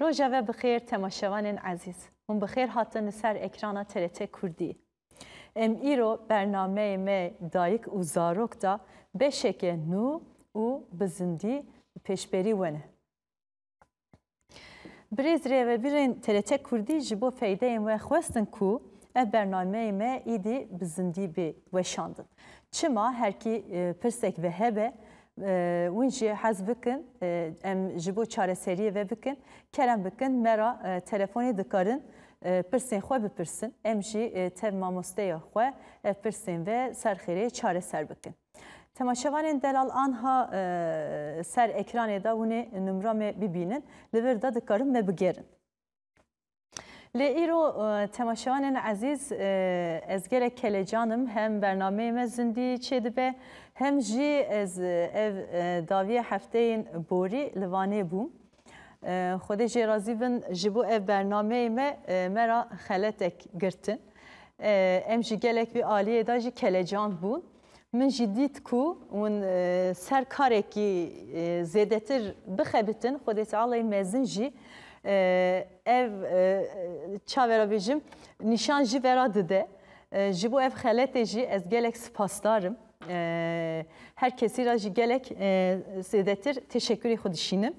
Rojeve bi xêr temaşevanên ezîz. Hûn bi xêr hatin li ser ekrana TRT Kurdî. Em îro bernameyê me Dayik û Zarok da beşeke nû û bi zindî li pêşberî we ne. Birêz rêvebirên TRT Kurdî ji bo feydeyên we xwestin ku ev bernameyê me îdî bi zindî bê weşandin. Çima herkî pirsek ve hebe Win jî hez bikin em ji bo çareseriyê ve bikin, kerem bikin me ra telefonê dikarin pirsên xwe bipirsin. Em jî tev mamosteya xwe ev pirsên ve ser xêrê çareser bikin. Temaşevanên Delal anha ser ekranê de winê numra me bibînin. Li vir de dikarin me bigêrin. Lê îro temaşevanên ezîz ez gelek kelecan im hem bernameyê me zindî çêdibe hem jî ez ev daviya hefteyên borî li Vanê bûm. Xwedê jê razî bin ji bo ev bernameyê me me ra xeletek girtin. Em jî gelek vê aliyê de jî kelecan bûn. Min jî dît ku hûn ser karekî zêdetir bixebitin, Xwedê Tealay mezin jî ev çavera bêjim nîşan jî vera dide. Ji bo ev xeletê jî ez gelek sipasdar im. Her kesî ra jî gelek zêdetir teşekkûrê xwe dişînim.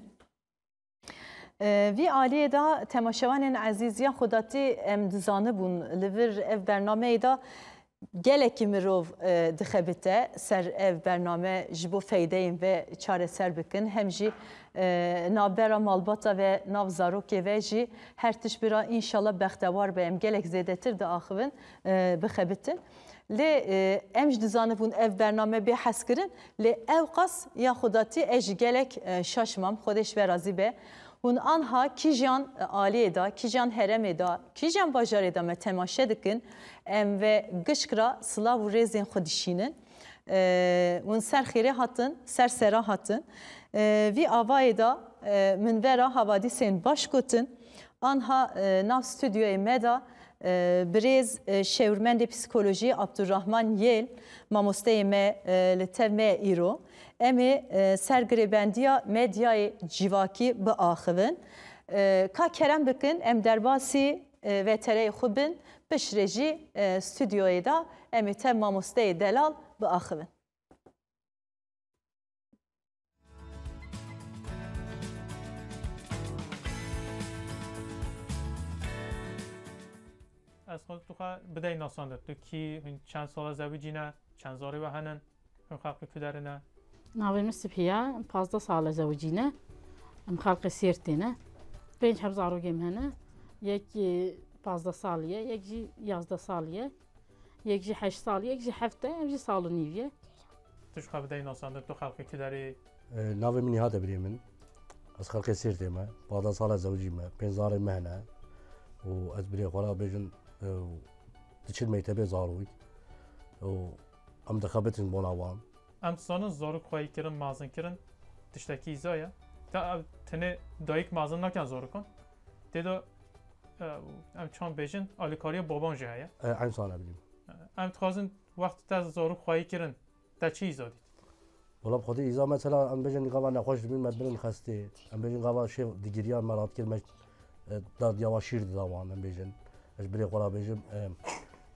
Vî aliyê de temaşevanên ezîz ya Xwedatî em dizanibûn li vir ev bernameyê de gelekî mirov dixebite ser ev bername ji bo feydeyên ve çareser bikin hem jî navbera malbata ve nav zarokê ve jî her tişt bira înşallah bextewar be em gelek zêdetir diaxivin bixebitin. Lê em ji dizanibûn ev bername bê hezkirin Lê ewqas ya Xwdatî ez jî gelek şaş mam, Xwedê ji we razî be. Hûn anha kîjan aliyê de, kîjan heremê de, kîjan bajarê de me temaşe dikin, em ve gişk re silav û rêzên xwe dişînin. Hûn ser xêrê hatin, ser sera hatin. Vî avayê de min vera havadîsên baş gotin. Anha nav studyoyê me de Birêz şêwirmendê psîkolojî Abdurrahman Yêl mamosteyê me li tev me ye îro. Em ê ser girêbendiya medyayê cîvakî biaxivin. Ka kerem bikin em derbasî vetereyê xwe bin, piştre jî studyoyê de em ê tev mamosteyê Delal biaxivin. Ez xwe tu xwe bidey nasandin. Tu kî hûn çend sala zewicî ne, çend zarê we henin, hûn xelqê ku derin e. Navê min Sipiya, pazdeh sala zewicî ne. Em xelqê Sêrtê ne. Pênc heb zarokê min hene. Yekî pazdeh salî ye, yek jî yazdeh salî ye. Yek jî heşt sal, yek jî heft e, ev jî sal û nîv ye. Tu ji xwe bidayî nasandin, tu xelkê tu derê? Navê min Nîhat e birê min. Ez xelkê Sêrtê me. Pazdeh sal e zewicî me. Pênc zarên me hene û ez birê xwe re bêjin di çil mektebê zarok û em dixebitin bona wan. Em dizanin zarok xweyî kirin, mezin kirin tiştekî îza ye. Te ev tenê dayik mezin nakin zarokan. Tê de em çan bêjin alîkariya baban jî heye. Eyn sala bilîm. Em dixwazin wextî te zarok xwayî kirin te çi îza dît? Wala xwedî îza mesela em bêjin gava nexweş dibîn me birin xestê. Em bêjin gava şêv digiriyan me radkir me dadiya wan şîr dida wan em bêjin. Ez birê xwe ra bêjim.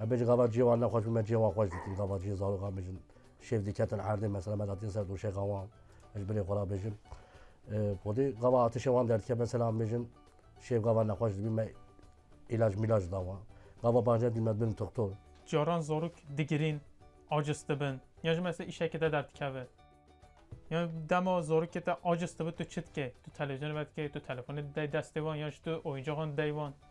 Em bêjin gava ciyê wan nexweş bî me ciyê wan xweş dikir gava ciyê zarokan bêjin Şêf diketin erdê mesela me datiye ser doşê gawan ji binê xwe ra bêjin podê gava atişê wan derdike mesela bêjin şêf gava nexweş dibî me îlaj mîlaj dawa gava baje dî me bin doktor. Caran zarok digirîn aciz dibin yan ji mesela îşekê te derdikeve yan dema zarokê te aciz dibe tu çi dikê tu televîzyonê vedikê tu telefonê didayî destê wan yan jî tu oyuncaxan didayî wan.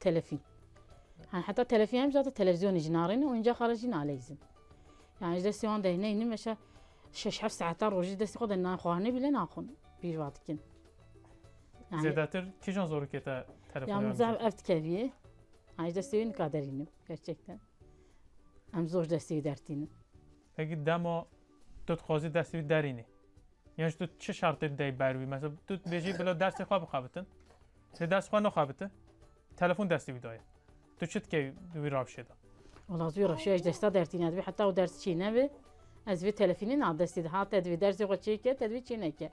Telefî. Yan heta telefî hemî zate televîzyonê jî narêne û încaxa re jî naleyzin. Yan ji destê wan dehneyî nîm veşa şeş heft saetan rojî destê xwe de nayê xwarinê bîle naxwin pîr va dikin. Zêdetir kîjan zorokê te telefon Yan min zaf ev dikevî. Yan ji destê wî nika derînim gerçekten. Em zor ji destê wî dertînin. Eki dema tu dixwazî destê wî derînî yan jî tu çi şertê dideyî ber wî mesela tu dibêjî bila dersê xwe bixebitin lê dersê xwe nexebiti telefon destê wî daye tu çi dikevî di wî ravşê de Wala tu ravşeya ji desta dertîne divê heta û ders çî nebe ez vê telefînê na destê de hate divê dersê xwe çêke te divê çêneke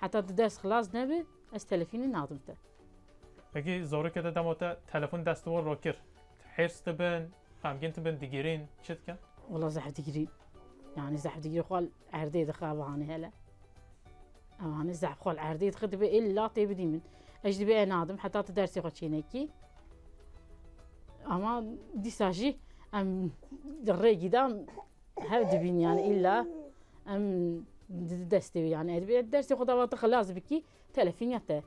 heta tu ders xilas nebe ez telefînê nadim te. Wekî zorokê de dema te telefon dest wan re kir, hêrs dibin, xemgîn dibin, digirîn, çi dikin? Wela zehf digirîn. Yanî zehf digirîn xwe li erdê dixe ev hanê hele. Ev hanê zehf xwe li erdê dixe dibe ê la tê bidî min. Ez jî dibe nadim heta tu dersê xwe çê nekî. Ama dîsa jî em di rêgî de hev dibîn yanî îlla em di destê wî yanî ez dibê dersê xwe dava tu xilas bikî. Telefîn ya te.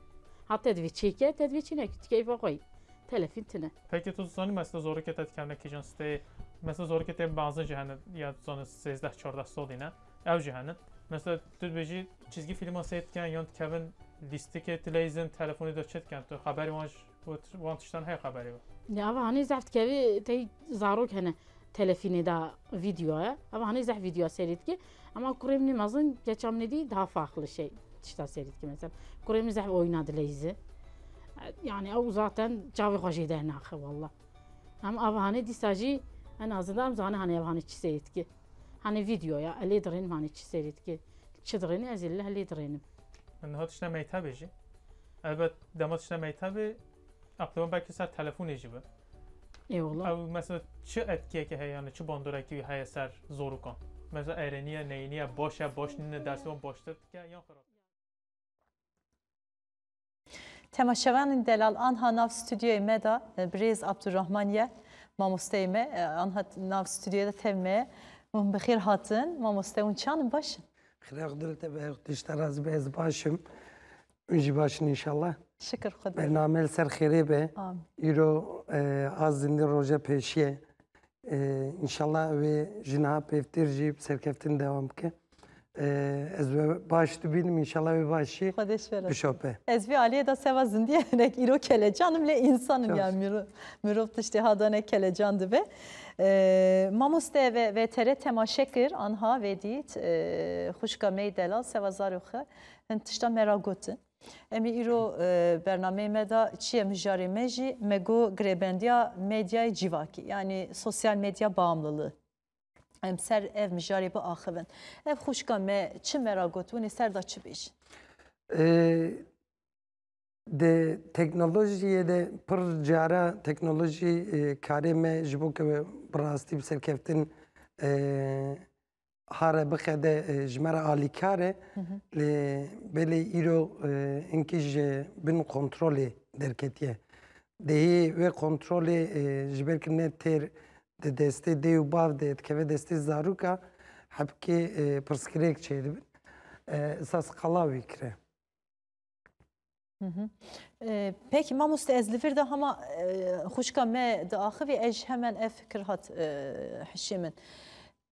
Ha te divê çêke, te divê çênekî. Tu keyfa xwe yî. Telefîn tune. Peki tu zanî mesela zorikê te dikevne kîjan steyê? Mesela zorikê te benzin jî hene ya tu zanî sêzdeh çardeh sodî ne? Ew jî hene. Mesela tu dibêjî çîzgî fîlman seyr diken yan dikevin lîstikê tileyzin telefonê de çi diken tu xeberê wan ji bo wan tiştan heye xeberê we? Ya ava hanê zehf dikevî tey zarok hene telefînê de vîdyoya. Ava hanê zehf vîdyoya seyrê dike. Ema kurê min mezin keça min dî daha farklı şey tişta serî dike mesela. Kurê min zehf oyna dileyzi. Yani ew zaten çavê xwe jê dernaxe wallah. Em av hanê dîsa jî en azida em zane hanê ev hanê çi serî dike. Hanê videoya elê dirênim hanê çi serî dike. Çi dirêni ez ê leh lê dirênim. Niha tişta meytebê jî. Elbet dema tişta meytebê Aqilwan belkî ser telefonê jî be. Ê wala. Ew mesela çi etkiyeke heye yanî çi bandorekî wî heye ser zorokan? Mesela erêniye, neyêniye, baş e, baş nîne, dersê wan baştir dike yan xirab? Temaşevanên delal anha nav studyoyê me de birêz Abdurrahman ye. Mamosteyê me anha nav studyoyê de tev me ye. Hûn bi xêr hatin. Mamoste hûn çi an in baş in? Xêra Xwedilitebehe Xwedişterazbe ez baş im. Min jî baş in înşallah. Şikir xwe Bername li ser xêrê be. Îro a zindî roja pêşî ye. Înşallah wê ji niha pêvtir jî bi serkeftin dewam bike. Ez we baş dibînim înşallah wê başî bişope. Ez vê aliyê de seva zindî ye hinek îro kelecan im lê însan im ya mirov tiştê ha dane kelecan dibe. Mamoste VTR temaşe kir anha vê dît xwişka me yê delal seva zarokxe Hin tişta me ra gotin. Em ê îro bernameyê me de çi ye mijarê me jî me got girêbendiya medyayê cîvakî yanî sosyal medya baamlılığı. Em ser ev mijarê biaxivin. Ev xwişka me çi me ra got winê ser de çi bêjin? Di teknolojiyê de pir cara teknolojî karê me ji bo ke bi rastî bi serkeftin Hare bixede ji me re alîkar e lê belê îro hinkî ji bin kontrolê derketiye. Dêhê wê kontrolê ji ber ku ne têr di destê dê û bav de dikeve destê zarûka hebkê pirsgirêk çêdibin. Esas qala wî kire. Peki mamoste ez li vir de hema xuşka me diaxivî ez hemen ev fikir hat hişê min.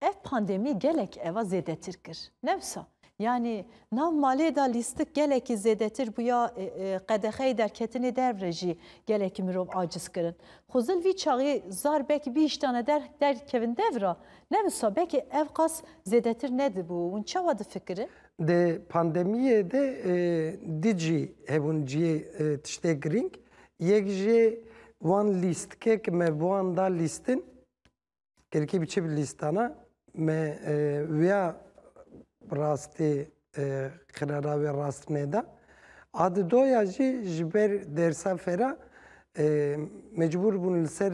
Ev pandemî gelek eva zêdetir kir. Newsa yanî nav malê da lîstik gelekî zêdetir bûya qedexeyê derketinê dervre jî gelekî mirov aciz kirin. Xwezil vî çaxî zar bekî bî îştane der derkevin devra. Newsa bekî ev qas zêdetir nedibû. Hûn çawa difikirin? Di pandemiyê de di cî hebûn ciyê tiştê girîng. Yek jê wan lîstkê ki me bi wan da lîstin kirkî bi çi bi lîstana me wiya rastê xirara wê rast nêda. A di doya jî ji ber dersa fera mecbûr bûn li ser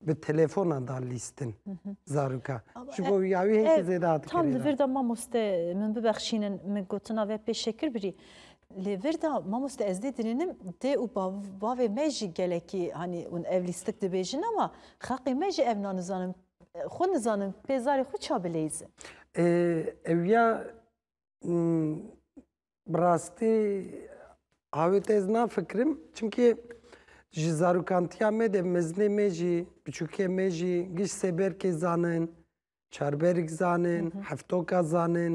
bi telefona da lîstin zaroka. Ji bo ya wî hêk zêde hat. Tam li vir de mamoste min bibexşînin min gotina ve pê şekir birî. Lê vir de mamoste ez dê dirênim dê û bavê me jî gelekî hanî hûn ev lîstik dibêjin ama xeqê me jî evna nizanin xwe nizanin pê zarê xwe ça bileyzin. Ew ya Bi rastî awê te ez nafikirim çimkî ji zarokantiya me de mezinê me jî biçûkê me jî giş sê berkê zanin, çarberik zanin, heftoka zanin,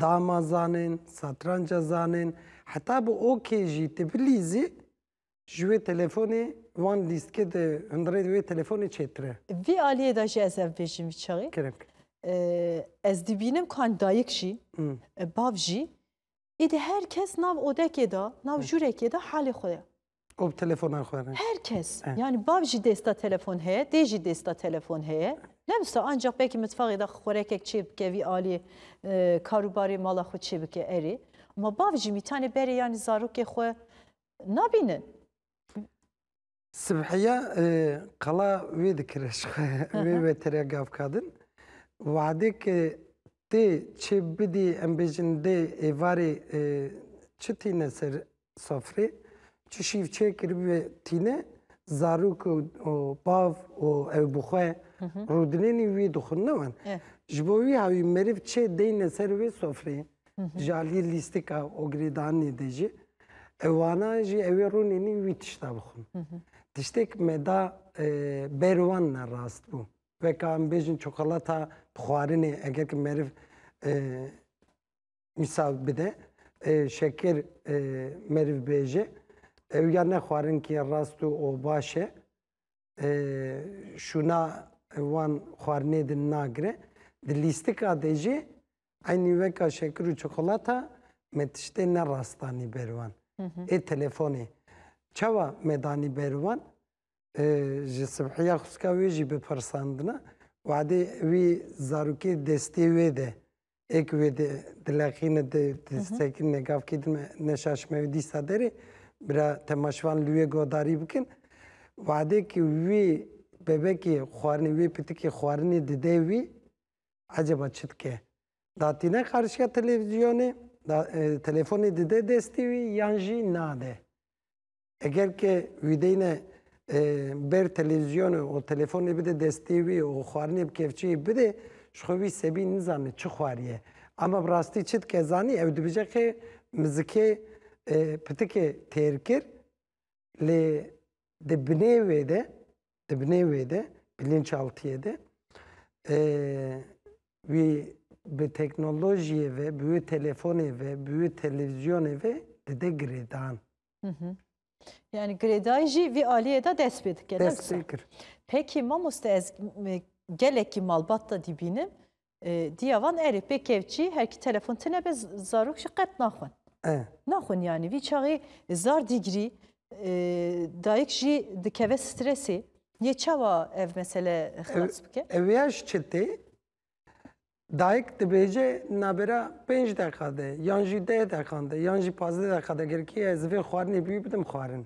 dama zanin, satranca zanin heta bi okê jî tu bilîzî Ji wê telefonê wan lîstkê di hundirê wê telefonê çêtir e. Vê aliyê de jî ez ev bêjim vî çaxê. Kerem kir. Ez dibînim ku an dayik jî, bav jî, êdî her kes nav odekê de, nav jûrekê de halê xwe ye. Û bi telefonan xwe re. Her kes. Yanî bav jî dêsta telefon heye, dê jî dêsta telefon heye. Ne wisa ancax belkî mitfaxê de xwerekek çê bike vî aliyê karûbarê mala xwe çê bike erê. Ema bav jî mîtanê berê yanî zarokê xwe nabînin. Sibhiya qala wê dikire ji xwe wê wetere gav kadin. Wadê ke tê çê bidî em bêjin dê êvarê çi tîne ser sofrê, çi şîv çê kiribê tîne zarok û bav û ew bi xwe rûdinênî wî dixwin ne wan. Ji bo wî hawî meriv çê deyne ser wê sofrê. Ji aliyê lîstika ogirêdanê de jî ewana jî ewê rûnênî wî tişta bixwin. Tiştêk me da e, ber wan ne rast bû. Veka em bêjin çikolata bi xwarinê eger ki meriv e, misal bide e, şeker e, meriv bêje ew ya ne xwarin ki rast û o baş e e, şûna wan xwarinê din nagire. Di lîstika de jî Eynî weka şekir û çikolata me tiştê ne rast danî ber wan. Ê telefonê çawa me danî ber wan? Ji sibhiya xwîska wê jî bipirsandina wadê wî zarokê destê wê de ê ku wê dileqîne disekîne gavkê dime neşaşime wê dîsa derê bira temaşvan li wê godarî bikin. Wadê ku wî bebekê xwarinê wê pitikê xwarinê dide wî Eceba çi dike? Da tîne qarşiya televîzyonê, da telefonê dide destê wî yan jî nade. Eger ke wî deyne ber televîzyonê û telefonê bide destê wî û xwarinê bi kevçeyê bide, ji xwe wî sebî nizane çi xwariye. Ema bi rastî çi dike zanî? Ew dibêje ke mizikê pitikê têr kir lê di binê wê de Di binê wê de, bilinçaltiyê de wî bi teknolojiyê ve, bi wê telefonê ve, bi wê televîzyonê ve dide girêdan. Yani girêdayî jî vî aliyê de dest pê dike. Dest pê kir. Peki mamoste ez gelekî malbat da dîbînim Diya van erê pê kevçî her kî telefon tine be zarok jî qet naxwin. Naxwin yanî vî çaxê zar dîgrî dayik jî dikeve stresê. Yê çawa ev mesele xilas bike? Ev ya ji çi tê? Dayik dibêje nabêra pênc deqa de yan jî deh deqan de yan jî pazdeh deqa de girkî ez vê xwarinê bî bidim xwarin.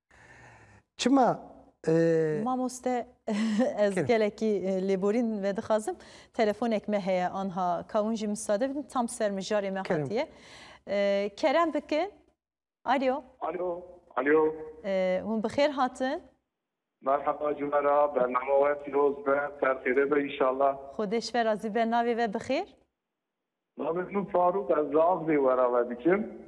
Çima Mamoste ez gelekî lêborîn vedixazim telefonek me heye anha ka hûn jî misade bidin tam ser mijarê me hatiye. Kerem bikin. Alo. Alo. Alo. Hûn bi xêr hatin. Merhaba cumera bername we pîroz be ser xêrê be înşallah. Xwedêş ve razî be navê ve bi xêr. Navê min Farûq ez li Azlê wera ve dikim.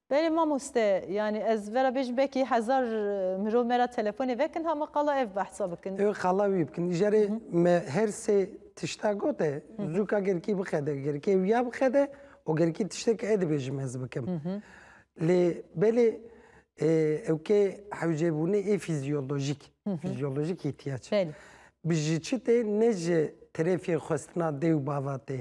Belê mamoste, yanî ez vera bêjim belkî hezar mirov me ra telefonê vekin ha me qala ev behsa bikin. Ew qala wî bikin. Îjarê me her sê tişta got e, zû ka gerikî bixede, gerikê wîya bixede û gerikî tiştê ke e dibêjim ez bikim. Lê belê ew kê hewcêbûnê ê fîzyolojîk, fîzyolojîk îhtiyac. Belê. Bi ji çi tê? Ne ji terefê xwestina dê û bava tê.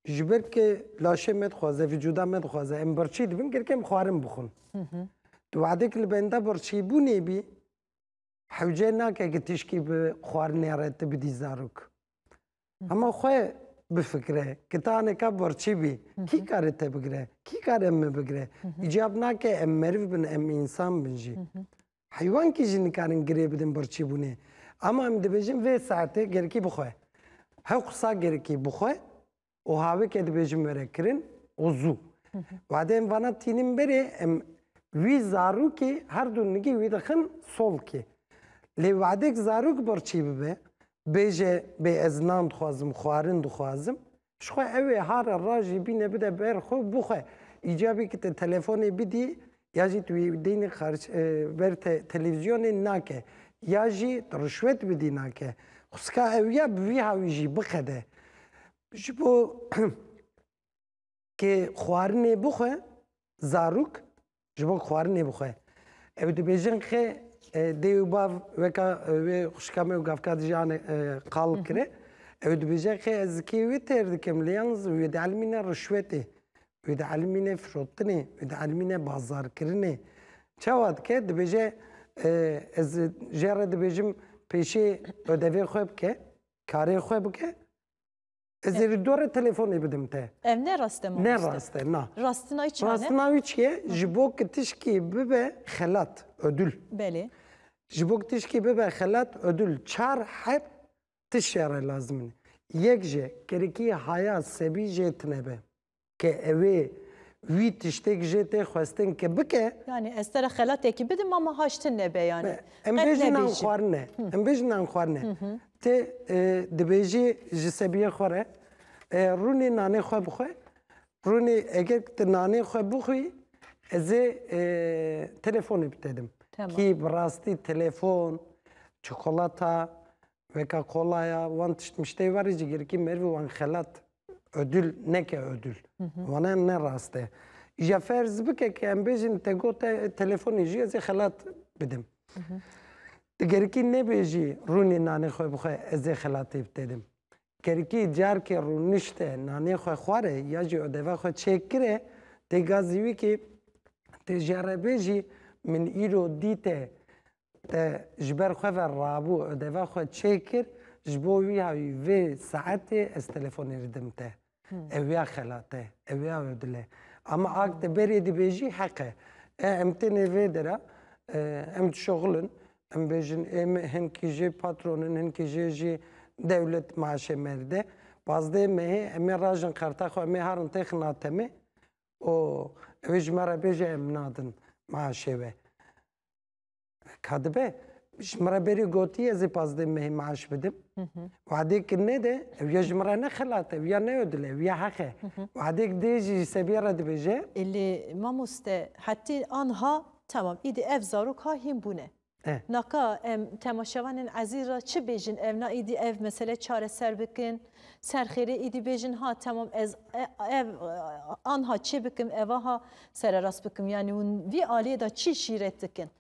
Ji ber ke laşê me dixwaze, vîcuda me dixwaze em birçî dibin gerek em xwarin bixwin. Di wexdek li benda birçîbûnê bî hewce nake ki tişkî bi xwarinê re tu bidî zarok. Hema xwe bifikire ki ta neka birçî bî kî kare te bigire, kî kare min bigire. Îcab nake em meriv bin, em însan bin jî. Heywankî jî nikarin girê bidin birçîbûnê. Ama em dibêjin vê saetê gerikî bixwe. Hew qisa gerikî bixwe û havêke dibêjin were kirin û zû. Wadê em vana tînin berê em wî zarokê her du nigî wî dixin solkê. Lê wadêk zarok birçî bibe bêje bê ez nan dixwazim, xwarin dixwazim Ji xwe ew ê har e ra jî bîne bide ber xwe û bixwe. Îcabî ki te telefonê bidî ya jî tu wî deynê xerç ber te televîzyonê nake ya jî tu rişwet bidî nake. Xwesika ew ya bi vî hawî jî biqede. Ji bo kê xwarinê bixwe zarok Ji bo xwarinê bixwe. Ew dibêjin xê dê û bav weka wê xuşka me û gavka dijî ane qal kire. Ew dibêje xê ez zikê wê têr dikim lê yalnîz wê di elmîne rişwetê, wê di elmîne firotinê, wê di elmîne bazarkirinê. Çawa dike? Dibêje ez jê re dibêjim pêşê odevê xwe bike, karê xwe bike Ez ê li dore telefonê bidim te. Ev ne rast e mamoste. Ne rast e, na. Rastina wî çi ne? Rastina wî çi ye? Ji bo ku tişkî bibe xelat, ödül. Belê. Ji bo ku tişkî bibe xelat, ödül çar heb tiştya re lazim in. Yek jî, kirikî haya sebî jê tine be. Ke evê wî tiştêk jê tê xwestin ke bike. Yanî ez te re xelatekî bidim mama haş ti nebe yanî. Em bêjin nan xwarine, em bêjin nan xwarine. Ti dibêjî ji sebiyê xwe re rûnê nanê xwe bixwe, rûnê eger ti nanê xwe bixwî ez ê telefonê bi te dim. Kî bi rastî telefon, çikolata Veka kolaya wan tişt mişteyê verî jî girkî merivî wan xelat ödül neke ödül. Wana em ne rast e. Îja ferz bike ke em bêjin te got e telefonê jî ez ê xelat bidim. Ti gerikî nebêjî rûnê nanê xwe bixwe ez ê xelatê bi te dim. Gerikî carke rûnişte nanê xwe xware ya jî ödeva xwe çêkire têga zîwîkê tê jere bêjî min îro dîte Te ji ber xwe ve rabû û deva xwe çêkir, ji bo wî ya wî vê saetê ez telefonê didim te. Ew ya xela te, ew ya wê dile. Ama ak te berê dibêjî heq e. E em tenê vê dera em dişoxilin, em bêjin ê me hinkî jê patron in, hinkî jê jî dewlet maaşê me dide. Pazdeh mehê em ê rajin xerta xwe em ê harin têxina temê û ew ê ji me re bêje em nadin maaşê we. Ka dibe ji min re berê gotiye ez ê pazdeh mehê maaş bidim. Wadêk nede ew ya ji min re ne xelat e, ew ya ne yo dil e, ew ya heq e. Wadêk dê jî ji sebiyê re dibêje. Lê mamoste hetê anha temam îdî ev zarok ha hîn bûne. Naka em temaşevanên ezîz re çi bêjin ev na îdî ev mesele çareser bikin. Serxêrê îdî bêjin ha temam ez ev anha çê bikim evaha Sererast bikim yani hûn vî aliyê de çi şîret dikin?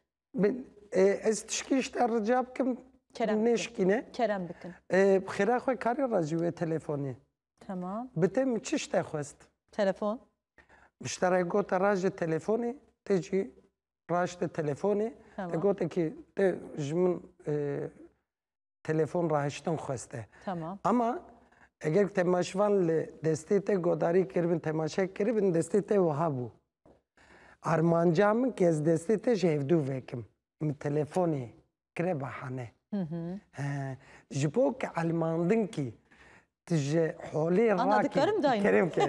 Ez tişkî ji te rica bikim nêşikîne. Kerem bikin. Bi xêra xwe karê re ji wê telefonê. Tamam. Bi te min çi ji te xwest? Telefon. Min ji te re gote raje telefonê, te jî raşte telefonê. Te gote ki te ji min telefon rahiştin xweste. Tamam. Ama eger temaşvan li destê te godarî kiribin, temaşe kiribin, destê te wiha bû. Armanca min ki ez destê te ji hevdû vekim. Min telefonê kire bahane. He. Ji bo ki elmandin kî Tu ji holê rakî kerem ke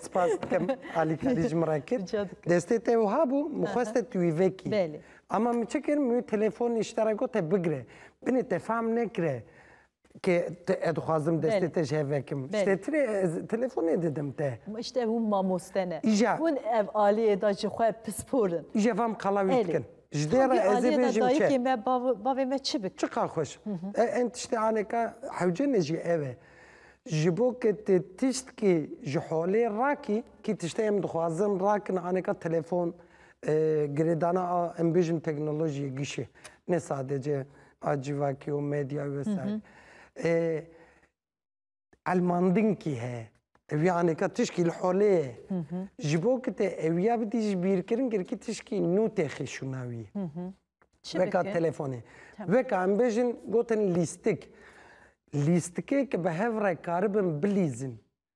spas dikim alî kadî ji min re kir. Destê te wiha bû min xweste tu wî vekî. Ema min çi kir min wî telefonê ji te re got te bigire. Binê te fehm nekire ke ez dixwazim destê te ji hev vekim. Ji te tire ez telefonê didim te. Îşte hûn mamoste ne. Hûn ev aliyê de ji xwe pispor in. Îşte van qala wî dikin. Ji dê re ez ê bêjim çi? Dayikê me, bavê me çi bik? Çiqa xweş. Em tiştê aneka hewce me jî ev e. Ji bo ke tu tiştkî ji holê rakî, kî tiştê em dixwazin rakin aneka telefon, girêdana a em bêjin teknolojiyê gişê. Ne sadece a civakî û medyayê wesayîr. Elmandinkî heye. Ev ya anêka tişkî li holê ye. Ji bo ku te ew ya bidî ji bîrkirin girkî tişkî nû tê xêşûna wî. Weka telefonê. Weka em bêjin gotin lîstik. Lîstikê ki bi hev re karibin bilîzin.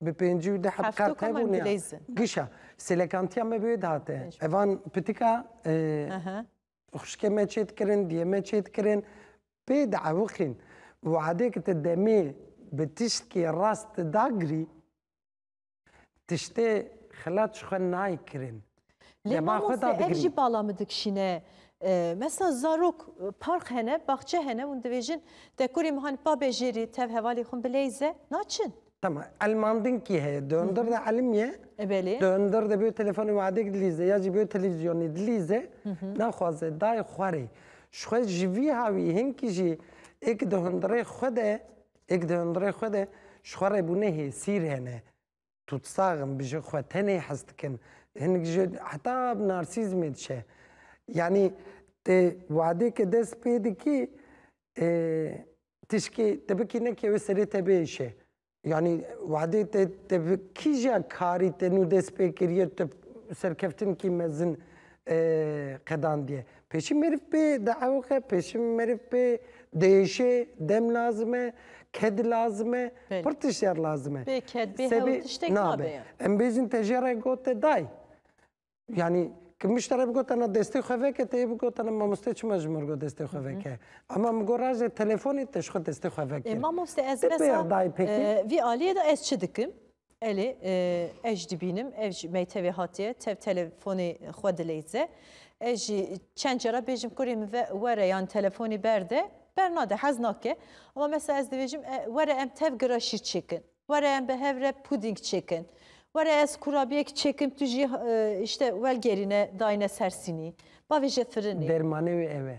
Bi pêncî û deh Hefto qert koma hebûne. ingilîz in. Gişa sêlekantiya me bi wê dihate. Pêncî. Evan pitika e, Aha. xuşkê me çê dikirin, diyê me çê dikirin. Pê diewixîn. Û adê ki ti demê bi tiştkê rast dagirî, tiştê xilat ji xwe nayê kirin. Lê ma xwe da digirî. Ev jî bala min dikişîne. Mesela zarok park hene, baxçe hene hûn dibêjin te kurê min hani pabe jêrî tev hevalê xwe bileyze naçin. Tamam. Elmandin kî heye? Di hundir de elim ye. E belê. Di hundir de bê telefonê wadek dilîze ya jî bê televîzyonê dilîze naxwaze dayê xwe rê. Ji xwe ji vî ha wî hinkî jî êk di hundirê xwe de êk di hundirê xwe de ji xwe re bûne hêsîr hene. Tutsag in, bi jin xwe tenê hez dikin. Hinek jin heta narsîzmê diçe. Yanî tu wadêke dest pê dikî tişkî te bikî nekê wê serê te biêşe. Yanî wadê te te bi kîja karî te nû dest pê kiriye tu serkeftinkî mezin qedandiye. Pêşî meriv pê diewixe, pêşî meriv pê diêşê, dem lazim e, ked lazim e, pir tiştyer lazim e. Bê ked, bê hewl tiştek nabe. Em bêjin te jê re gote dayî. Yanî ki min ji te re bigotena destê xwe veke te yê bigotena mamoste çima ji min re got destê xwe veke. Ama min got raje telefonê te ji xwe destê xwe veke. Ê mamoste ez besa vî aliyê de ez çi dikim? Elê, ez jî dibînim ev ji meytevê hatiye tev telefonê xwe dileyze. Ez jî çend cara bêjim kurê min ve were yan telefonê berde, bernade hez nake. Ama mesela ez dibêjim were em tev giraşî çêkin, were em bi hev re pudîng çêkin, were ez kurabiyek çêkim tu jî îşte welgerîne dayne ser sînî, bavêje firinê. Dermanê wê ev e.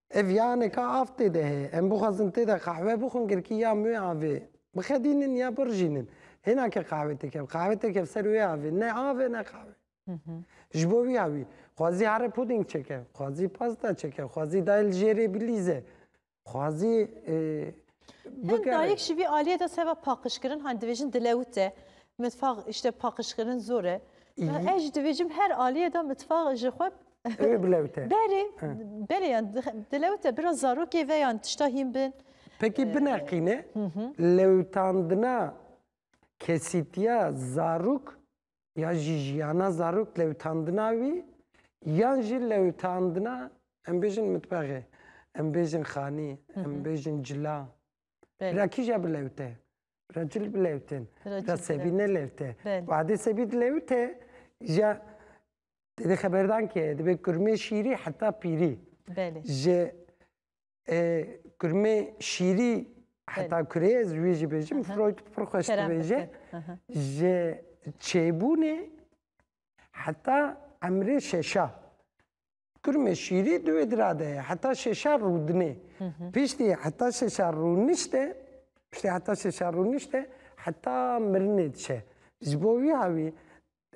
Ev yane ka av tê de heye. Em bixwazin tê de qehwe bixwin girkî ya mûyê avê bixedînin ya birijînin. Hêna ke qehwe tê kev, qehwe tê kev ser wê avê. Ne av e ne qehwe. Ji bo wî ya wî. Xwazî here pudîng çeke, xwazî pasta çeke, xwazî dayê li jêrê bilîze, xwazî Hin dayik ji vî aliyê de seba paqijkirin hani dibêjin dilewit e. Mitfaq îşte paqijkirin zor e. Ez jî dibêjim her aliyê de mitfaq ji xwe Bilewit e. Berê, berê yan dilewit e biraz zarokê ve yan tişta hîn bin. Peki bineqîne lewitandina kesîtiya zarok ya jî jiyana zarok lewitandina wî yan jî lewitandina em bêjin mitbexê, em bêjin xanî, em bêjin cila. Bira kîja bilewte? Bira cil bilewtin. Bira sebî nelewte. Wadê sebî dilewte ja dêdê xeberdan ke dibê kurmê şîrî heta pîrî. Ji Kurmê şîrî heta kurê ez wî jî bêjim Freud pir xweş dibêje ji çêbûnê heta emrê şeşa. Kurmê şîrî di wê dira de ye heta şeşa rûdinê. Piştî heta şeşa rûnişte piştî heta şeşa rûnişte heta mirinê diçe. Ji bo wî hawî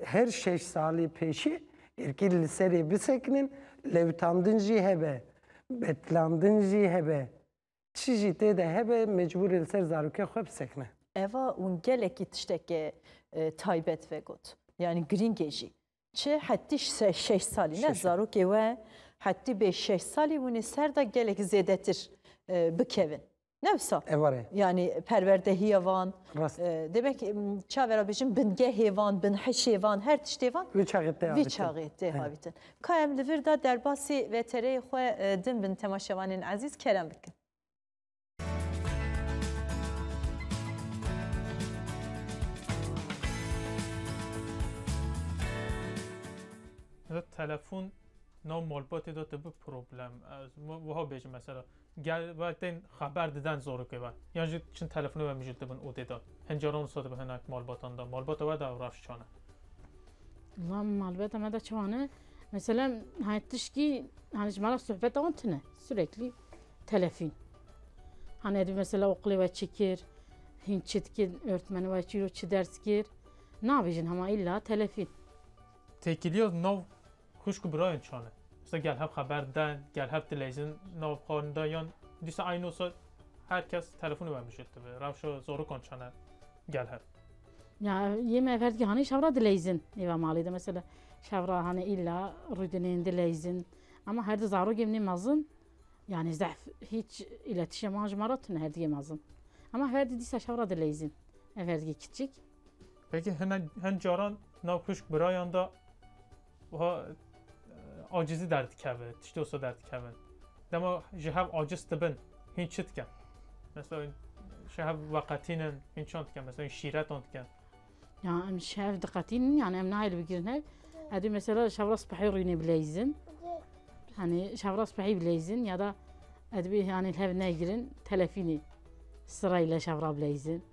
Her şeş salê pêşî erkî li serê bisekinin, lewtandin jî hebe, betlandin jî hebe, çi jî tê de hebe mecbûr e li ser zarokê xwe bisekine. Eva hûn gelekî tiştekê taybet vegot, yanî girîngê jî. Çi hetî şeş salî ne, zarokê we hetî bê şeş salî hûn ê ser de gelek zêdetir bikevin. Ne wisa. E var e. Yani perwerdehiya van. Rast. Demek çavera bêjin bingehê van, binhişê van, her tiştê van. Vî çaxê te avîtin. Vî çaxê te avîtin. Ka em li vir da derbasê VTR'yê xwe din bin temaşevanên ezîz kerem bikin. Telefon nav malbatê de tê bi problem. Ez wiha bêjim mesela Gel ve tên xeber diden zorokê ve yan jî çin telefonê ve mijûl dibin û dê dan. Hin caran wisa dibe hinek malbatan de. Malbata we de reş çan e? Wela malbata me de çawan e. Mesela hani tişkî hani ji mala sohbeta wan tune. Süreklî telefîn. Hani edî mesela oqilê we çi kir, hîn çi dikir, örtmeni we çîro çi ders kir. Nabêjin hema îlla telefîn. Têkiliya nav Xwişk û birayên tu çane? Dîsa gel hev xeber diden, gel hev tileyzin nav xwe nida yan dîsa eyno sa her kes telefonê we mijûl dibe. Rewşa zarokan çane gel hev? Ya yê me ver dike hanê şevra dileyzin nêva malê de mesela şevra hanê îlla rûdinên dileyzin ema her di zarokê min ê mezin yanî zehf hîç îletîşeman ji me re tune her di yê mezin. Ema her di dîsa şevra dileyzin ev her di yê kiçik. Belkî hinek hin caran nav xwişk birayan de wiha acizî derdikeve, tiştê wisa derdikeve. Dema ji hev aciz dibin hîn çi dikin? Mesela hîn ji hev veqetînin hîn çan dikin mesela hîn şîretan dikin. Ya em ji hev diqetînin yani em nayê li bigirin hev. Edî mesela ji hevra sibehê rûînê bileyzin. Hani ji hevra sibehê bileyzin ya da edbê yani li hev negirin telefînê sirayê leşevra bileyzin.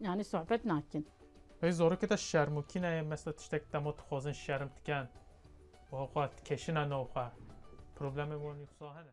Yanî sohbet nakin. Hey zorikê te şerm û kîna ye mesta tiştek dema dixwazin şerm dikin û xwe dikeşine nav xwe. Problemê wan yoksa hene.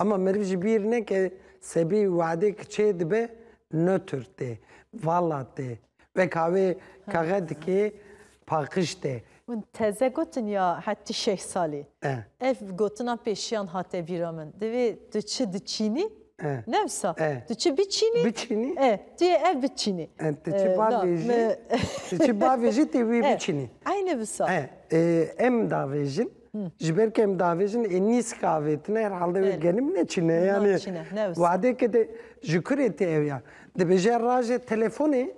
Ema meriv ji bîr neke sebî weadê ki çêdibe nötr tê, vala tê. Weka wê kaxe dikê paqij tê. Min teze gotin ya hetî şeş salî. Ev gotinan pêşiyan hate bîra min. Divê tu çi diçînî? Ne wisa. Tu çi biçînî? Biçînî? E, tu yê ev biçînî. Tu çi bavêjî? Tu çi bavêjî tê wî biçînî. Eynî wisa. Em davêjin. Ji ber ku em diavêjin ê nîsk avêtine herhalde wê genim neçîne yanî wadêke de ji kurê tê ew ya. Dibêje rajê telefonê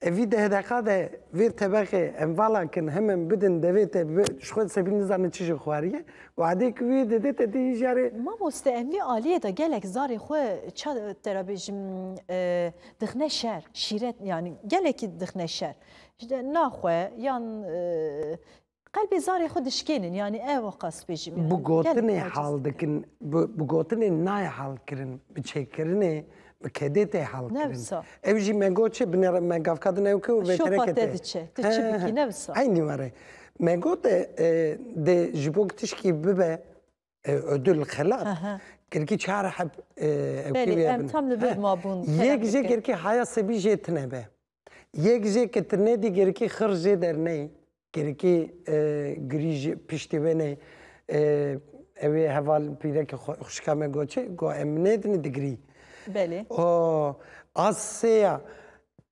e vî deh deqa de vê tebexê em vala kin hem em bidin devê te ji xwe sebî nizane çi jê xwariye wadê ku wê dede te dê hî jarê. Mamoste em vê aliyê de gelek zarê xwe ça te re bêjim dixne şer şîret yanî gelekî dixne şer ji de na xwe yan Qelbê zarê xwe dişkênin yanî ew a qas bêjim yanî. Bi gotinê hal dikin, bi gotinê nayê halkirin, bi çêkirinê, bi kedê tê halkirin. Ne wisa. Ew jî me got çi, binê re me gavka din ew ke û vê teneke tê. Şopa te diçe, tu çi bikî ne wisa. Eynî were. Me got dê ji bo ku tişkî bibe ödül xelat. Kirkî çar heb Belê em tam li vir mabûn. Yek jê kirkî haya sebî jê tine be. Yek jê ki tu nedî kirkî xir jê derneyî. Kirkî girî ji piştî wê neyê. Ew ê heval pîrekê xwe xwişka me got çi? Got em nêdinê digirî. Belê. A sê ya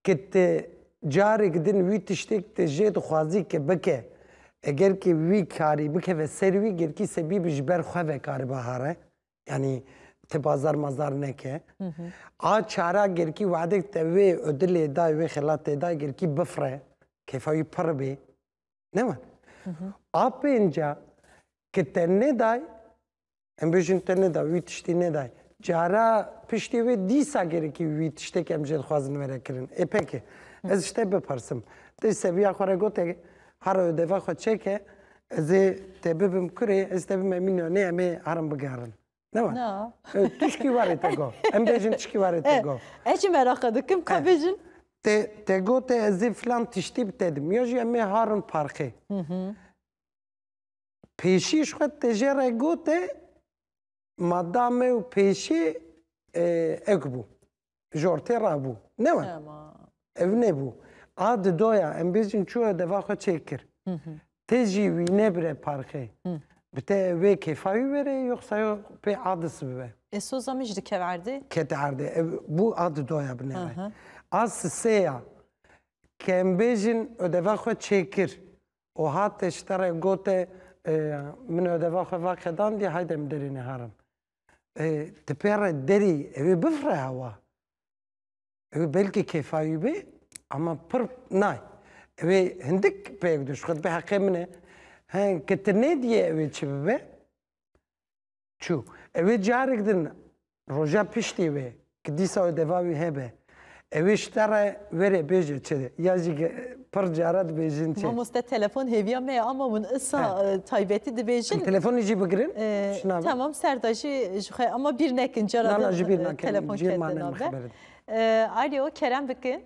Ke ti carêk din wî tiştêk di jê dixwazî ke bike, eger kî wî karî bikeve ser wî, gelkî sebî bi ji ber xwe ve karibe hare. Yanî ti bazar mazar neke. A çara gelkî wexdek te wê odilê dayê, wê xelatê dayê gelkî bifire, kêfa wî pirr bê. Ne wan. A pênca, ke te neday, Em bêjin te neda, wî tiştî nedaye. Cara piştê wê dîsa gerekî wî tiştêk em jê dixwazin were kirin. Ê peke. Ez ji te bipersim. Te ji seviya xwe re gote hara ödeva xwe çeke ez ê te bibim kurê ez te bim emî nanê em ê herin bigerin. Ne var. Na. Tişkî warê te go. Em bêjin tişkî warê te go. Ez jî meraqa dikim ka bêjin. Te te gote ez ê filan tiştî bi te dim. Ya jî em ê harin parkê. Pêşî ji xwe tê jê re gote ma da me û pêşî ek bû. Ji ortê re bû. Ne we. Ev nebû. A di doya em bêjin çûye deva xwe çêk kir. Tê jî wî nebire parxê. Bi te wê kêfa wî verê yoxsa yo pê a disibibe. Ê soza min jî dikeve erdê? Kete erdê. Ev bû a di doya binêre. A siseya ke em bêjin deva xwe çêk kir. O hate ji te re gote, Min odeva xwe va qedandî, hayde em derê niharin. Ti pê re derî ew ê bifire hewa. Ew ê belkî kêfayî bê ama pir nayê. Ew ê hindik peyek dû ji xwe dibê heqê min e. He, ke ti nêdiyê ew ê çi bibe? Çû. Ewê carek din roja piştê wê ki dîsa wê deva wî hebe, ewê ji te re were bêje çi ya jî pir cara dibêjin çi. Mamoste telefon hêviya me ye ama hûn isa taybetî dibêjin. Telefonê jî bigirin. Tamam ser de jî ji xwe ama bîr nekin cara din telefon ketin nave. Alo kerem bikin.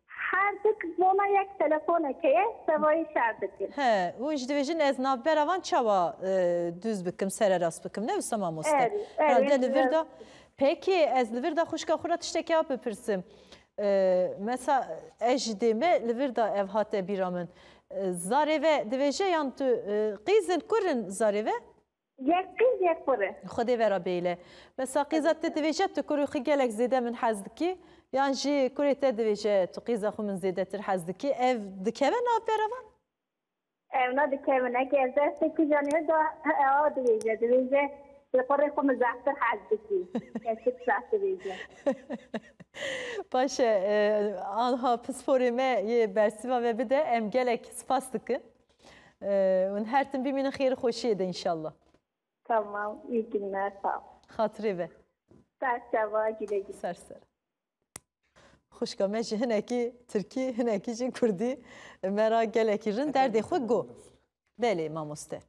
Herdik bona yek telefoneke ye sevayê şer dikin. He û ji dibêjin ez navbera van çawa dûz bikim sererast bikim ne wisa mamoste. Erê erê ez li vir da peki ez li vir da xwişka xwe ra tiştekê a bipirsim. Mesa ez ji dê me li vir da ev hate bîra min zarê ve dibêje yan tu qîzin kurin zarê ve? Yek qîz yek xwe re. Xwedê vera bêle. Me saqîza te divêje tu kurê xwe gelek zêde min hez dikî yan jî kurê te divêje tu qîza xwe min zêdetir hez dikî ev dikeve nav vera van? Ew ne dikeve ne ki ez destê kijan ê da a divêje divêje tu kurê xwe min zehtir hez dikî kesik seh divêje. Baş e anha pisporê me yê bersîva ve bide em gelek spas dikin. Hûn her tim bimînin xêr û xweşiyê de înşallah. Tamam, iyi günler, sağ ol. Xatirê ve. Serçava, güle güle. Ser ser. Xuşka me ji hinekî Tirkî, hinekî jî Kurdî me ra gelekî rin derdê xwe got. Belê mamoste.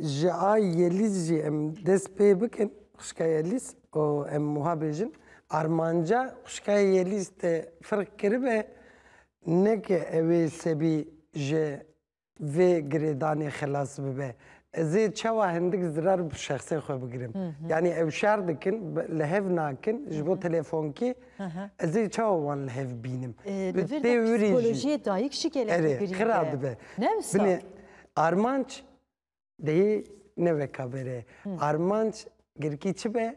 Ji ay Yelîz jî em dest pê bikin xuşka Yelîz û em wiha bêjin armanca xuşka Yelîz te firq kiribe Neke ew ê sebî ji vê girêdanê xilas bibe. Ez ê çawa hindik zirar bi şexsê xwe bigirim? Yanî ew şer dikin, li hev nakin ji bo telefonkê, ez ê çawa wan li hev bînim? Li vir de psîkolojiyê dayik jî gelekî girîng e. Erê, xira dibe. Ne wisa? Binê armanc Dehî ne weka bere. Armanc girkî çi be?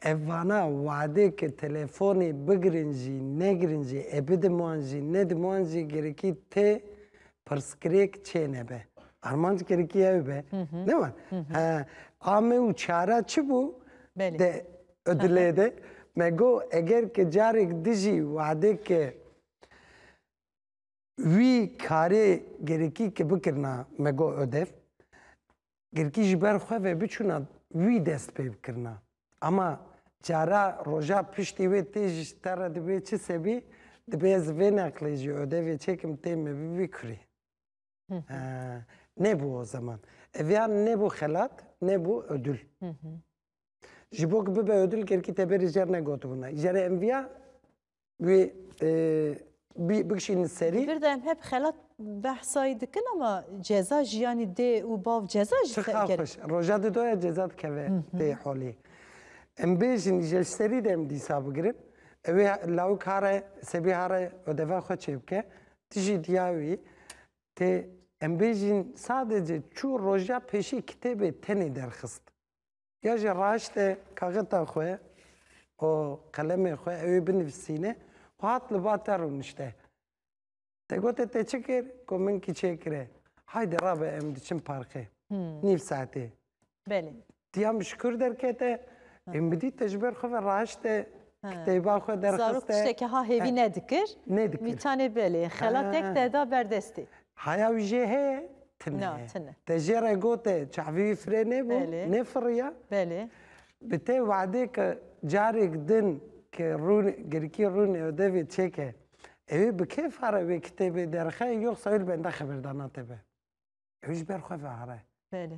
Ev vana wade ke telefonê bigirin jî negirin jî e bidim wan jî nedim wan jî girkî tê pirsgirêk çênebe. Armanc girkî ew be. Ne wan. He ame û çara çi bû? Belê. De dilê de me got eger ke carêk dijî wade ke Wî karê gerikî ke bikirina me got odev, gerikî ji ber xwe ve biçûna wî dest pê bikirina. Ama cara roja piştî wê tê ji te re dibê çi sebî, dibê ez vê neqlê jî odevê çêkim tê me bibî kurê. Nebû o zeman. Ev ya nebû xelat, nebû odul. Ji bo ku bibe odul gerikî teberê jer ne gotibûna. Jerê em viya wê bikişînin serî. Li vir de em hep xelat behsayî dikin ama ceza jî yanî dê û bav ceza jî teker. Roja di doya ceza dikeve dê holê. Em bêjin îje ji serî de em dîsa bigirin. Ewê lawik hare sebî hare odeva xwe çê bike. Ti jî diya wî tê em bêjin sadece çû roja pêşî kitêbê tenê derxist. Ya jî raşte kaxeta xwe û qelemê xwe ew ê binivîsîne û hat li ba te rûnişte. Te gote te çi kir ku min kiçêkire? Haydê rabe em diçin parkê. Nîv saetê. Belê. Tiya min şikur derkete, ê min dît te ji ber xwe ve raşte kitêba xwe derxiste. Zarok tiştekî ha hêvî nedikir. Nedikir. Mîtanê belê. Xelatek te da berdestê. Haya wî jê heye? Tune Na, ye. tune. Te jê re gote çavê wî firê nebû, Belê. nêfiriya? Belê. Bi te we'dê ke carêk din ke rûn girkî rûnê odevê çêke, ewê bi kêfa re wê kitêbê derxe yoxsa wê li benda xebirdana te be. Ewê ji ber xwe ve'are. Belê.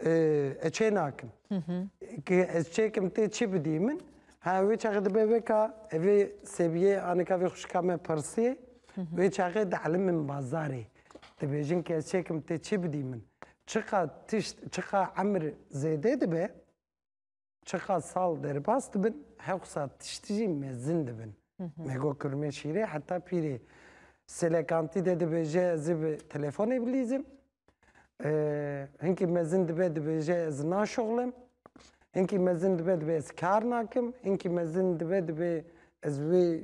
Ez çê nakim. Ki ez çêkim tê çi bidî min. Ha wê çaxê dibe veka evê Sebiyê anika vê xuşika me pirsiyê. Wê çaxê dielin min bazarê. Dibêjin ki ez çêkim tê çi bidî min. Çiqa tişt, çiqa emir zêdê dibe. Çiqas sal derbas dibin, hewqsa tişt jî mezin dibin. Me got Kurmê Şîrê heta pîrê Selekantî de dibêje ez ê bi telefonê bilîzim. Hinkî mezin dibe dibêje ez naşuxlim. Hinkî mezin dibe dibê ez kar nakim. Hinkî mezin dibe dibê ez wê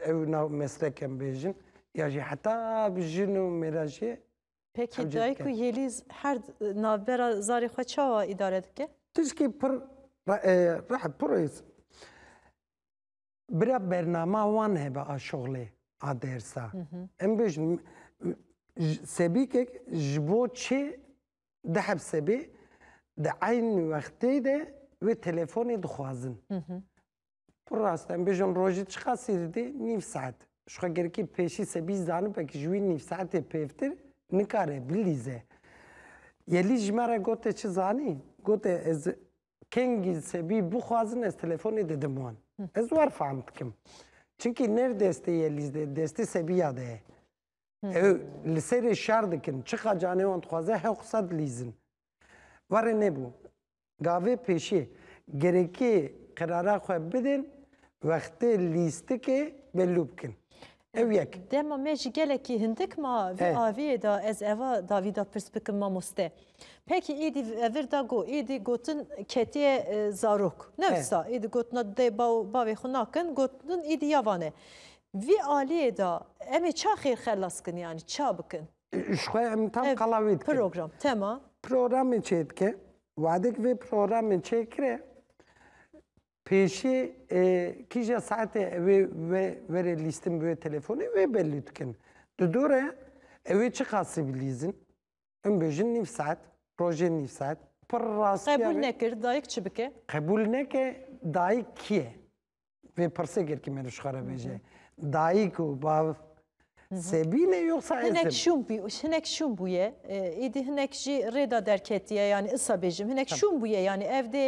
ew nav meslekem bêjin. Ya jî heta bi jin û mêra jî Peki dayik û Yelîz her navbera zarê xwe çawa îdare dike? Tişkî pir rih pir rêz bira bernama wan hebe a şixulê a dersa. Em bêjin sebîkek ji bo çi dihebsebê di eyn wextê de wê telefonê dixwazin. Pir rast e. Em bêjin rojê çiqas sê didê? Nîv saet. Ji xwe gerikê pêşî sebî zanibek ji wî nîv saetê pêvtir nikare bilîze. Yelî ji me re gote çi zanî? Gote ez kengî sebî bixwazin ez telefonê didim wan. Ez war fehm dikim. Çimkî ne li destê Yelîz de, destê sebiya de ye. Ew li serê şer dikin. Çiqa canê wan dixwaze hew qisa dilîzin. Warê nebû. Gavê pêşî, girêkî qerara xwe bidin, wextê lîstikê belû bikin. Ew yek. Dema me jî gelekî hindik ma vê aviyê de ez eva davî de pirs bikim mamoste. Pekî êdî vir de got, êdî gotin ketiye zarok. Ne wisa êdî gotina dê baw bavê xwe nakin, gotin êdî ya vane. Vî aliyê de em ê ça xêrxelas kin yanî ça bikin? Ji xwe em tam Ev qala wê dikin. Program, tema. Programê çê dike. Wadek vê programê çê kire pêşî e, kîja saetê evê ve verê lîstin bi wê telefonê wê belî dikin. Di dore evê çi qasî bilîzin? Em bêjin nîv saet, rojê nîv saet. Pir rastiya Qebûl vê. nekir, dayik çi bike? Qebûl neke dayik kî ye? Pê pirsê kir ki mêr ji xwe bêje. Dayik û bav sebîne yoksa ez hinek şûn bû hinek şûn bûye êdî hinek jî rêda derketiye yanî isa bêjim hinek şûn bûye yanî ev dê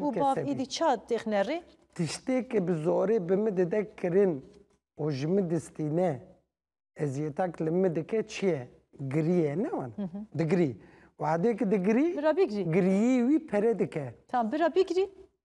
û bav êdî ça têxne rê tiştêkê bi zorê bi min dide kirin û ji min distîne eziyetak li min dike çi ye giriye ne wan digirî wadêkî digirî bira bigirî giriyî wî pere dike tam bira bigirî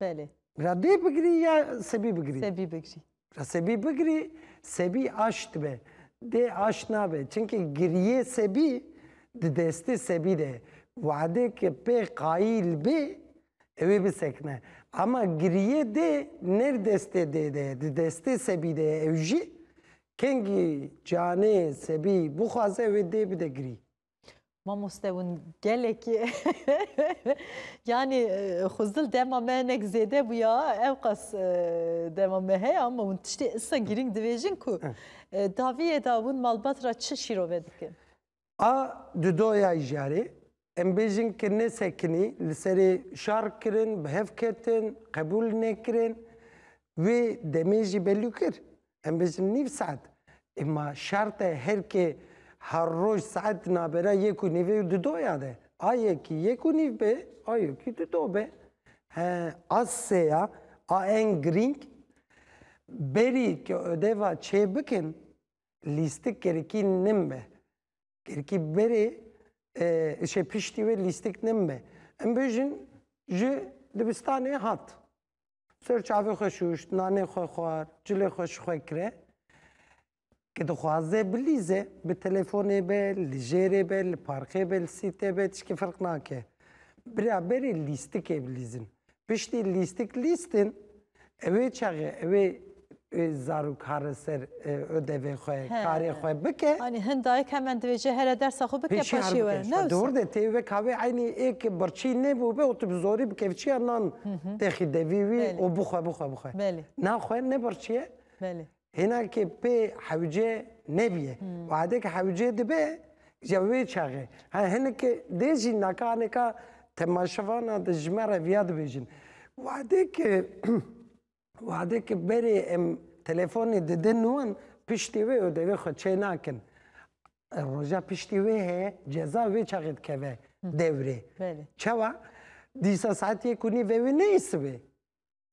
Belê. Radê bigirî ya sebî bigirî? Sebî bigirî. Ra sebî bigirî, sebî aş dibe. Dê aş nabe. Çimkî giriyê sebî di destê sebî de ye. Wadêke pê qayîl bê ewê bisekine. Ema giriyê dê ne di destê dê de ye, di destê sebî de ye. Ew jî kengî canê sebî bixwaze ewê dê bide girî. Mamoste hûn gelekî yanî xwezil dema me hinek zêde bûya ewqas dema me heye ama hûn tiştê issa girîng dibêjin ku daviyê de hûn malbat re çi şîrove dikin? A di doya jarê em bêjin ki ne sekinî li serê şar kirin, bi hev ketin, qebûl nekirin. Wê demê jî belû kir. Em bêjin nîv saet. Ê ma şert e her kê her roj saet nabera yek û nîvê û dudo ya de. A yekî yek û nîv be, a yekî dudo be. He, a sê ya, a en girîng. Berî ke odeva çê bikin, lîstik gerikî nin be. Gerikî berê şê piştî wê lîstik nin be. Em bêjin ji dibistanê hat. Sor çavê xwe şûşt, nanê xwe xwar, cilê xwe ji xwe kire. Ke dixwaze bilîze, bi telefonê be, li jêrê be, li parkê be, li sîte be, tişkî firq nake. Bira berê lîstikê bilîzin. Piştî lîstik lîstin, ewê çaxê, ewê zarok hare ser ödevê xwe, karê xwe bike. Anî hin dayik hemen divêje here dersa xwe bike paşê we. Ne wisa. Dor de tê wek havê eynî ê ke birçî nebûbe û tu bi zorî bi kevçiya nan texî devî wî û bixwe bixwe bixwe. Na xwe ne birçî ye. Hêna ke pê hewce nebîye. Wade ke hewce dibe ya wê çaxê. Ha hinek dê jî naka aneka temaşevana de ji me re viya dibêjin. Wade ke Wexdê ke berê em telefonê didin wan, piştî wê û devê xwe çê nakin. Roja piştî wê heye, ceza wê çaxê dikeve dewrê. Çawa? Dîsa saet yek û nîv e wê neyê sibê.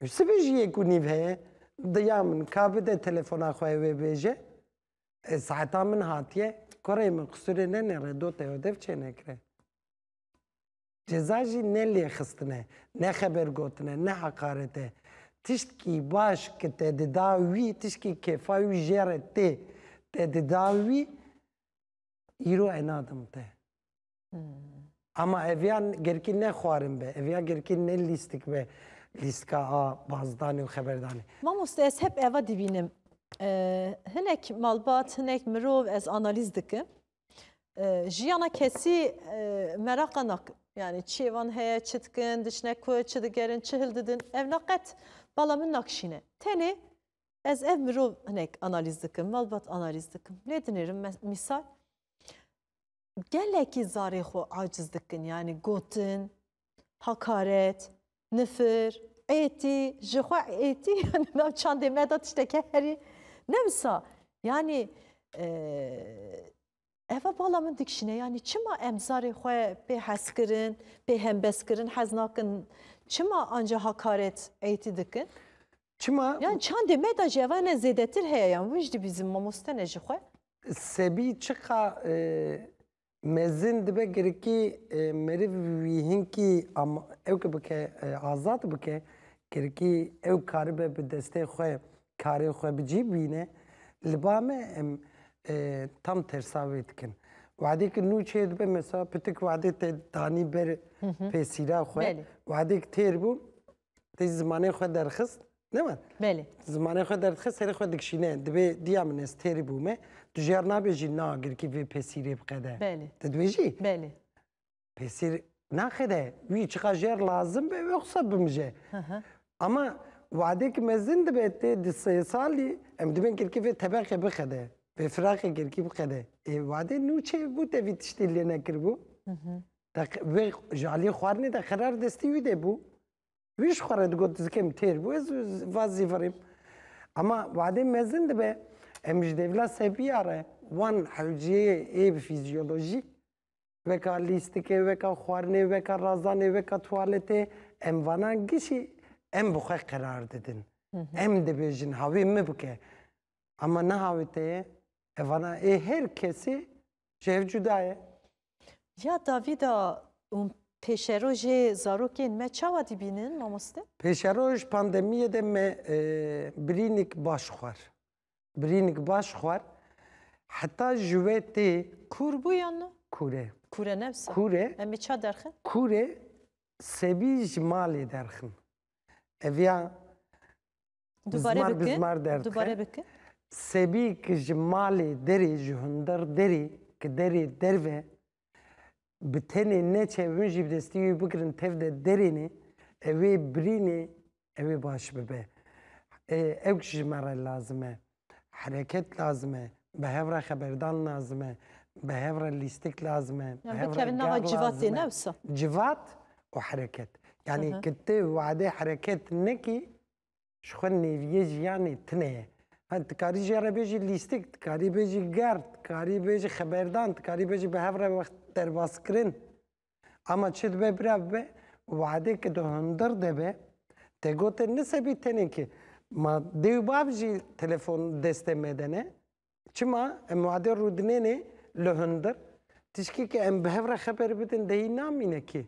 Sibê jî yek û nîv heye. Diya min ka bide telefona xwe wê bêje. Saeta min hatiye. Kurê min qisûrê nenêre dotê û dev çênekire. Ceza jî ne lêxistin e, ne xebergotin e, ne heqaret e. Tiştkî baş ki te dida wî, tiştkî kêfa wî jê re tê, te dida wî, îro e nadim te. Ama ev ya gerkî ne xwarin be, ev ya gerkî ne lîstik be, lîstika a bazdanê û xeberdanê. Mamoste ez hep eva dibînim. Hinek malbat, hinek mirov ez analîz dikim. Jiyana kesî meraqa nak yanî çi êvan heye, çi dikin, diçine ku, çi digerin, çi hildidin ev na qet bala min nakişîne. Tenê ez ev mirov hinek analîz dikim, malbat analîz dikim. Lê dinêrim mîsal gelekî zarê xwe aciz dikin yanî gotin, Hakaret, nifir, êtî, jixwe êtî yani nav çandê me de tişteke herî ne wisa. Yani eva bala min dikişine yani çima em zarê xwe pê hezkirin, pê hembezkirin hez nakin çima anca hakaret êtî dikin? Çima? Yani çandê me de jeva ne zêdetir heye yan vijdi bizim mamoste ne jixwe. Sebî çiqa Mezin dibe girikî meriv wî hinkî ama ew ke bike azad bike girikî ew karibe bi destê xwe karên xwe bi cî bîne. Li ba me em tam tersa wê dikin. Wedêk nû çê dibe mesela pitik wedê te danî ber pêsîra xwe. Wedêk têr bû Tê zimanê xwe derxist. Ne var. Belê. Zimanê xwe derxist serê xwe dikşîne. Dibê diya min ez têrî bûme. Tu jêr nabê jî na girkî vê pesîrê biqede. Belê. Te dibê jî? Belê. Pesîr naxede. Wî çiqa jêr lazim be wê xisa bimije. Ama wadekî mezin dibe tê di sê salî em dibên girkî vê tebeqê bixede. Vê firaqê girkî biqede. Ê wade nû çê bû te vî tiştî lê nekiribû? Te vê ji aliyê xwarinê de xerar destî wî dê bû. Wî ji xwe re digot zikêm têr bû ez va zîvirîm. Ama wadê mezin dibe em ji devla sebiya re wan hewciyê ê fizyolojî weka lîstikê, weka xwarinê, weka razanê, weka tuwaletê em vana gişî em bi xwe qerar didin. Em dibêjin havê min bike. Ama niha wê te ye. Ev vana ê her kesî Çêv cuda ye. Ya Davîda û pêşerojê zarokên me çawa dîbînin mamoste? Pêşeroj pandemiyê de me e, birînik baş xwar. Birînik baş xwar. Heta ji wê tê Kûr bû yan ne? kûrê. Kûre ne wisa. Kûrê. Em ê ça derxin? Kûrê sebî ji malê derxin. Ev ya Bizmar bizmar derdixin. Sebî ki ji malê derê ji hundir derê ki derê derve bi tenê neçe hûn jî bi destî wî bigirin tev de derêne ewê birînê ewê baş bibe. Ewk ji me re lazim e. Hereket lazim e, bi hev re xeberdan lazim e, bi hev re lîstik lazim e, bi hev re ger lazim e. Civat û hereket. Yanî ku tu wadê hereket nekî ji xwe nêrîyê jiyanê tune ye. Hal tu karî jê re bêjî lîstik, tu karî bêjî ger, tu karî bêjî xeberdan, tu karî bêjî bi hev re wext derbazkirin. Ama çi dibe bira bibe weadê ki di hundir de be te gotin nisebî tenê ki ma dê û bav jî telefon destê me de ne. Çima em weadê rûdinênê li hundir tişkî ki em bi hev re xeber bidin dehî namîne kî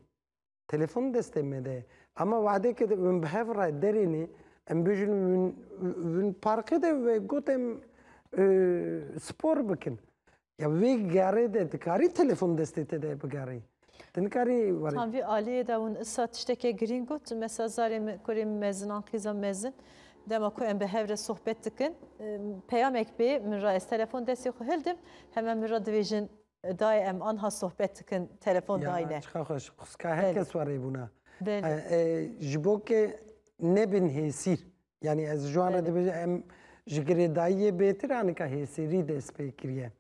telefon destê me de ye. Ama weadê ki min bi hev re derênê em bêjin win parkê de ve gotin spor bikin. Ya vê gerê de dikarî telefon destê te de bigerî. Tu nikarî werî. Tam vî aliyê de hûn îsa tiştekê girîng got. Mesela zarê min, kurê min mezin an qîza mezin. Dema ku em bi hev re sohbet dikin, peyamek bê min re ez telefon destê xwe hildim, heme min re dibêjin dayê em anha sohbet dikin telefon dayne. Ya çiqa xweş. Xwska her kes werê bûna. Belê. Ji bo ke nebin hêsîr. Yanî ez ji wan re dibêjim em ji girêdayiyê bêtir anika hêsêrî dest pê kiriye.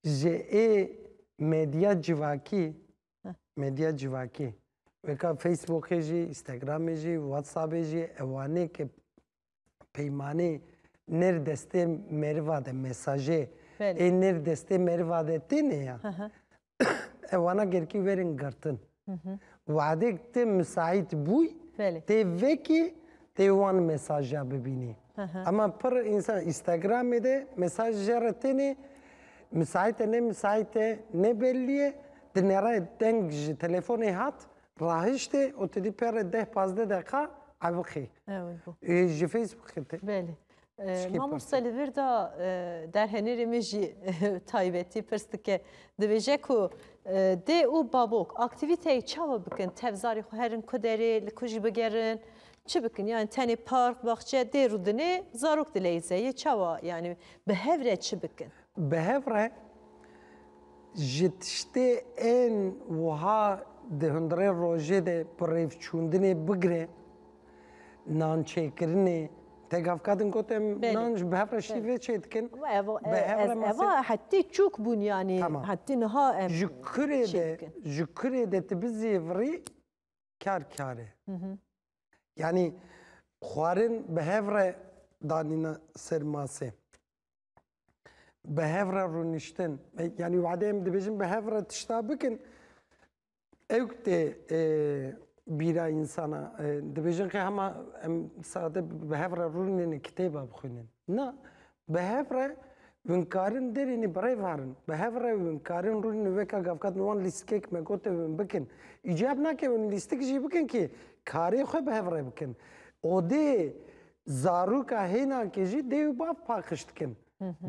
Ji ê medya civakî medya civakî weka Facebookê jî, Instagramê jî, WhatsAppê jî ewanê ki peymanê nêr destê meriva de mesajê ê nêr destê meriva de têne ya. ewana gerkî werin girtin. Wadê te misaît bûy tê vekî tê wan mesaja bibînî. Ema pir însan Instagramê de mesaj jere tenê misaîte ne misaîte ne bellî ye di nere deng ji telefonê hat rahiştê û tu dî pere deh pazdeh deqa ewiqî. Ji Facebookê tê. Mamoste li vir de derhenêrê min jî taybetî pirs dike. Dibêje ku dê û babok aktîvîteyê çawa bikin? Tev zarê xwe herin ku derê li ku jî bigerin? Çi bikin? Yani tenê park, baxçe dê rûdinê zarok dileyze yê çawa yani bi hev re çi bikin? Bi hev re ji tiştê ên wiha di hundirê rojê de bi rêvçûndinê bigire, Nan çêkirinê te gav kadin got em nan ji bihevre şîvê çê dikin. Eva hetê çûk bûn yanî hetê niha em ji kurê de ji kurê de tu bizêvirî kar kar e. Yanî xwarin bihevre danîna ser masê. Bihevre rûniştin yanî wade em dibêjin bihevre tişta bikin Ew tê bîra însana dibêjin qe hema em sade bi hev re rûnêne kitêba bixwînin. Na, bi hev re win karin derînê bi rê varin. Bi hev re win karin rûnê weka gavkat min wan lîstikek me gote win bikin. Îcab nake win lîstik jî bikin kê karê xwe bi hev re bikin. Odê zarûka hênankê jî dê û bav paqij dikin.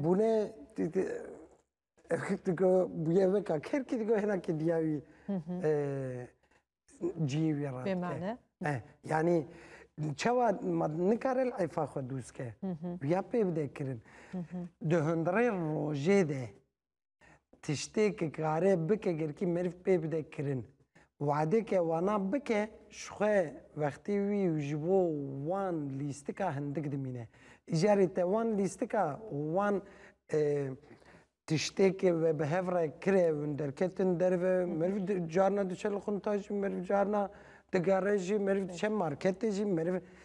Bûne Digo bûye veka kêr kî digo hêna kî diya wî ciyê wî ra dike. Yanî çawa ma nikare li efa xwe dûst ke. Bûya pê bide kirin. Di hundirê rojê de tiştê ki kare bike gerkî meriv pê bide kirin. Wadeke wana bike ji xwe wextê wî û ji bo wan lîstika hindik dimîne. Îcarê te wan lîstika û wan tiştêkê we bi hev re kire û derketin derve. Meriv carna diçe li qunta jî, meriv carna digere jî, meriv diçe marketê jî, meriv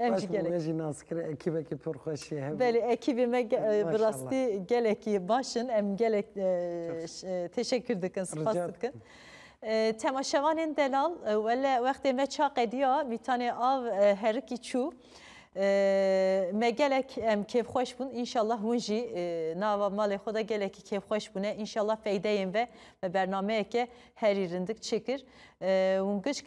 Baş bû me jî nas kir ekîbekî pir xweş jî hebû. Belê ekîbê me bi rastî gelekî baş in em gelek teşekkür dikin spas dikin. Temaşevanên delal wele wextê me ça qediya mîtanê av herikî çû me gelek em kêfxweş bûn înşallah hûn jî nava malê xwe de gelekî kêfxweş bûne înşallah feydeyên ve me bernameyeke herî rindik çêkir hûn giçk